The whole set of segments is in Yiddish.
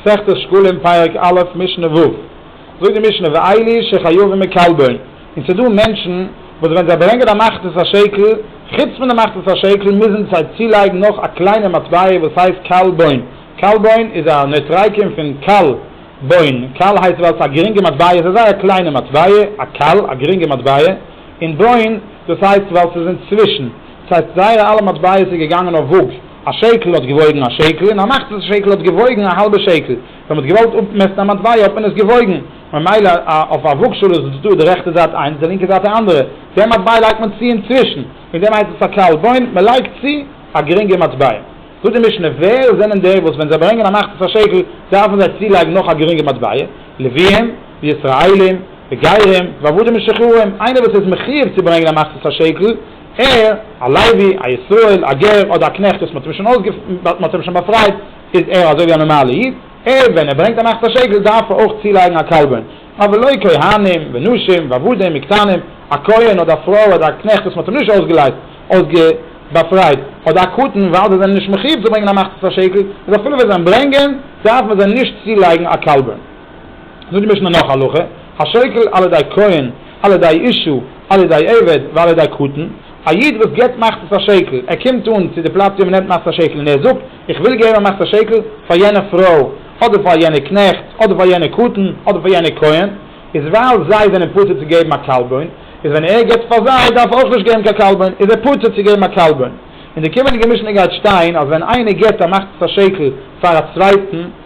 מסכת שקלים פרק א' משנה ו' זאגט די משנה ואילי שחייבים מקלבין און ס'איז דא מענטשן וואס ווען זיי ברענגען א מחצית השקל חוץ פון די מחצית השקל מוזן זיי צולייגן נאך א קליינע מטבע וואס הייסט קלבין, קלבין איז א נוטריקון פון קל, בין, קל הייסט ווייל ס'איז א גרינגע מטבע ס'איז אזי א קליינע מטבע א קל א גרינגע מטבע און בין דאס הייסט ווייל ס'איז אינצווישן. ס'הייסט זייערע אלע מטבעות איז געגאנגען אויף וואג, א שעקל האט געוואויגן א שעקל און א מאכטל שעקל האט געוואויגן א האלבע שעקל, ווען מ'האט געוואלט אפמעסטן א מטבע האט מען עס געוואויגן, ממילא אויף א וואגשאל איז דא די רעכטע זייט איינס די לינקע זייט א אנדערע, די מטבע לייגט מען צו אינצווישן, וועגן דעם הייסט עס א קל בוין, מ'לייגט צו א גרינגע מטבע. זאגט די משנה, ווער זענען די וואס ווען זיי ברענגען א מאכטל פאר שעקל דארפן זיי צולייגן נאך א גרינגע מטבע, לווים, וישראלים, וגרים, ועבדים משוחררים, איינער וואס איז מחיוב צו ברענגען א מאכטל פאר שעקל, ער, א לוי, א ישראל, א גר, אדער א קנעכט וואס מ'האט אים שוין באפרייט, איז ער אזוי ווי א נארמאלע איד, ער, ווען ער ברענגט אן אכטער שקל דארף ער אויך צולייגן א קרבן, אבער לא כהנים ונשים ועבדים וקטנים, א כהן אדער א פרוי אדער א קנעכט וואס מ'האט אים נישט אויסגעלייזט, באפרייט, אדער א קטן, ווייל זיי זענען נישט מחיוב צו ברענגען אן אכטער שקל, איז אפילו ווען זיי אים ברענגען, דארף מען זיי נישט צולייגן א קרבן. זאגט די משנה נאך א הלכה, השוקל על ידי כהן, על ידי אישה, על ידי עבד, ועל ידי קטן, א איד וואס געבט מחצית השקל, ער קומט אן צו די פלאץ ווי מען נעמט מחצית השקל און ער זאגט, איך וויל געבן א מחצית השקל פאר יענע פרוי, אדער פאר יענע קנעכט, אדער פאר יענע קטן, אדער פאר יענע כהן, איז ווייל זיי זענען פטור צו געבן א קלבון, איז ווען ער געבט פאר זיי דארף ער אויך נישט געבן קיין קלבון, איז ער פטור צו געבן א קלבון. אין די קומענדיגע משנה גייט שטיין אז ווען איינער געבט א מחצית השקל פאר א צווייטן,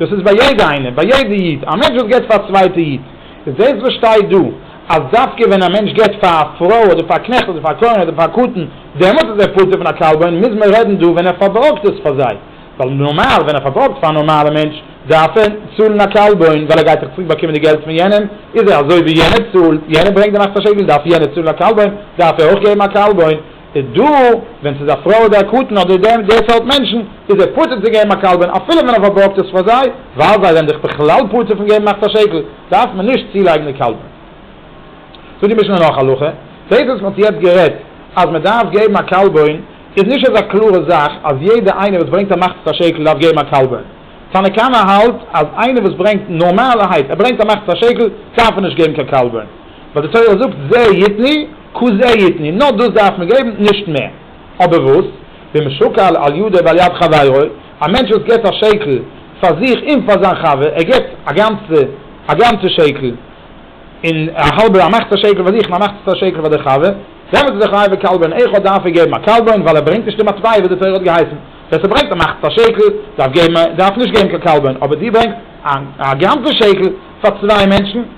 דאס איז ביי יעדע איינער, ביי יעדע איד, א מענטש וואס געבט פאר א צווייטע איד, איז דאס וואס שטייט דא, אז דווקא ווען א מענטש געבט פאר א פרוי אדער פאר א קנעכט אדער פאר א כהן אדער פאר א קטן, דעמאלטס איז ער פטור פון א קלבון, מוז מען רעדן דא ווען ער פארבארגט עס פאר זיי, ווייל נארמאל ווען ער פארבארגט פאר א נארמאלע מענטש, דארף ער צאלן א קלבון, ווייל ער גייט דאך צוריק באקומען די געלט פון יענעם, איז ער אזוי ווי יענער צאלט, יענער ברענגט די נאכט א שקל, דארף יענער צאלן א קלבון, דארף ער אויך געבן א קלבון, איז דא ווען ס'איז א פרוי אדער א קטן אדער דעם די סארט מענטשן איז ער פטור צו געבן א קלבן אפילו ווען ער פארבארגט עס פאר זיי ווייל זיי זענען זיך בכלל פטור פון געבן מאכט א שקל דארף מען נישט צולייגן די קלבן. זאגט די משנה נאך הלכה, דאס וואס מ'האט יעצט גערעדט אז מ'דארף געבן א קלבן איז נישט אזא קלארע זאך אז יעדע איינער וואס ברענגט א מחצית השקל דארף געבן א קלבן, תנא קמא האלט אז איינער וואס ברענגט נארמאלערהייט ער ברענגט א מחצית השקל דארף ער נישט געבן קיין קלבן. ווייל די תורה זאגט זה יתני כו זה יתני, נאר דאס דארף מען געבן, נישט מער. אבער וואס? ומשקל על ידו ועל יד חברו, א מענטש וואס געבט א שקל פאר זיך און פאר זיין חבר, ער געבט א גאנצע א גאנצע שקל, און א האלבע א מחצית שקל פאר זיך און א מחצית א שקל פאר די חבר, דעמאלט איז ער חייב בקלבון איכה דארף ער געבן א קלבון ווייל ער ברענגט נישט די מטבע וואס די תורה האט געהייסן, ווער ס'ברענגט א מחצית א שקל דארף געבן דארף נישט געבן קיין קלבון, אבער דו ברענגסט א גאנצע שקל פאר צוויי מענטשן,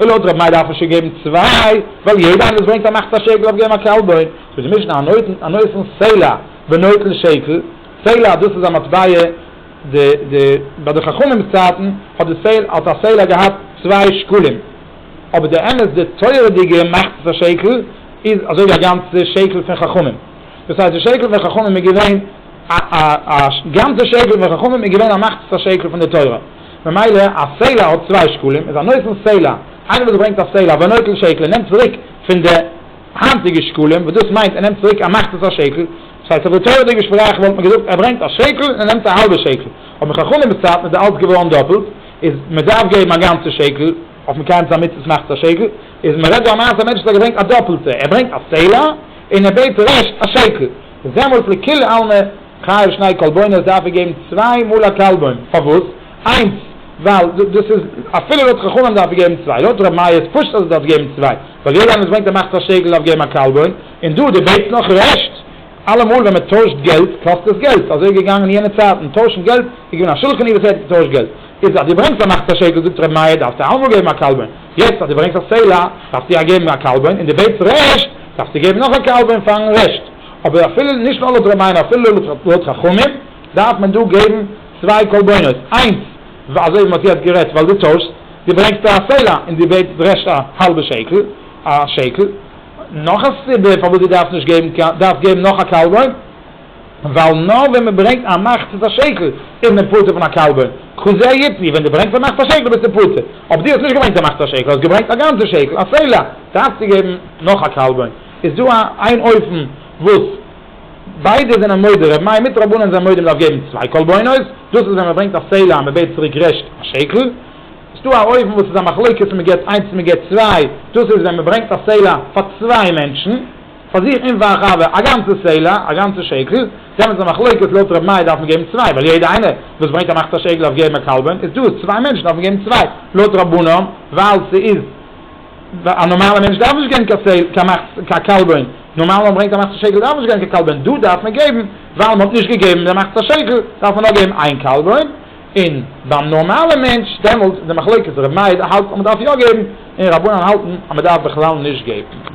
לויט רב מאיר דארף מען שוין געבן צוויי, ווייל יעדע איינער וואס ברענגט א מחצה שקל דארף געבן א קאלבוין, זאגט די משנה הנותן הנותן סלע ונוטל שקל, סלע דאס איז א מטבע, די די ביי די חכמים'ס צייטן האט די סלע האט א סלע געהאט צוויי שקלים, אבער די אמת די תורה'דיגע מחצה שקל איז אזוי ווי א גאנצע שקל פון חכמים, דאס הייסט די שקל פון חכמים איז געווען א א א גאנצע שקל פון חכמים איז געווען א מחצה שקל פון די תורה. ממילא א סעלה האט צוויי שקלים, איז א נוטל סעלה, איינער וואס ברענגט א סעלה אויף א נוטל שקל און נעמט צוריק פון די היינטיגע שקלים, וואס דאס מיינט ער נעמט צוריק ער מאכט עס א שקל, דאס הייסט אויף די תורה'דיגע שפראך וואלט מען געזאגט ער ברענגט א שקל און ער נעמט א האלבע שקל, אבער אין חכמים'ס צייטן איז די אלץ געווארן דאפלט, איז מען דארף געבן א גאנצע שקל, אויף מקיים זיין מצוות מאכט עס א שקל, איז מען רעדט דא א מעשה א מענטש וואס האט געברענגט א דאפלטע, ער ברענגט א סעלה און ער בעט רעשט א שקל. דעמאלטס לכולי עלמא חייב שני קלבונות דארף ער געבן צוויי מאל א קלבון, פארוואס? איינס ווייל דאס איז אפילו לויט חכמים דארף ער געבן צוויי, לויט ר' מאיר איז פשוט אז ער דארף געבן צוויי, ווייל יעדער איינער וואס ברענגט א מחצית השקל דארף געבן א קלבון, און דא דו בעטסט נאך רעשט, אלעמאל ווען מען טוישט געלט קאסט עס געלט, אזוי איז געגאנגען יענע צייטן, טוישן געלט, איז געווען א שולחן ערוך וואס ער האט געטוישט געלט, איז אז דו ברענגסט א מחצית השקל זאגט ר' מאיר דארפסטו אלעמאל געבן א קלבון. יעצט אז דו ברענגסט א סלע דארפסטו יא געבן א קלבון, און דו בעטסט רעשט דארפסטו געבן נאך א קלבון פארן רעשט, אבער אפילו נישט נאר לויט רבינו אפילו לויט חכמים דארף מען דא געבן צוויי קלבנות, איינס אזוי ווי מ'האט יעצט גערעדט ווייל דו טוישסט, דו ברענגסט א סלע און דו בעטסט רעשט א האלבע שקל, א שקל, נאך א סיבה פארוואס דו דארפסט נישט געבן דארפסט געבן נאך א קלבון. ווייל נאר ווען מען ברענגט א מחצית השקל איז מען פטור פון א קלבא, כזה היתני, ווען דו ברענגסט א מחצית השקל ביסטו פטור, אויב דו האסט נישט געברענגט א מחצית השקל, האסט געברענגט א גאנצע שקל, א סלע, דארפסטו געבן נאך א קלבא, איז דא איין אופן וואס ביידע זענען מודה, רבי מאיר מיט רבנן זענען מודה מען דארף געבן צוויי קלבנות, דאס איז ווען מען ברענגט א סלע און מען בעט צוריק רעשט א שקל, עס איז דא א אופן וואס איז א מחלוקת צו מען געבט איינס צו מען געבט צוויי, דאס איז ווען מען ברענגט א סלע פאר צוויי מענטשן. פאר זיך און פארן חבר א גאנצע סלע, א גאנצע שקל, איז עפעס א מחלוקת לויט רבי מאיר דארף מען געבן צוויי ווייל יעדער איינער וואס ברענגט א מחצית א שקל דארף געבן א קלבן איז דאס צוויי מענטשן דארף מען געבן צוויי לויט רבנן ווייל ס'איז א נארמאלע מענטש דארף נישט געבן קיין מחצית קיין קלבן נארמאלע וואס ברענגט א מחצית א שקל דארף נישט געבן קיין קלבן דא דארף מען געבן ווייל מ'האט נישט געגעבן די מחצית א שקל דארף מען נאר געבן איין קלבן. און ביים נארמאלע מענטש דעמאלטס די מחלוקת רבי מאיר האלט אז מען דארף יא געבן און רבנן האלטן אז מען דארף בכלל נישט געבן.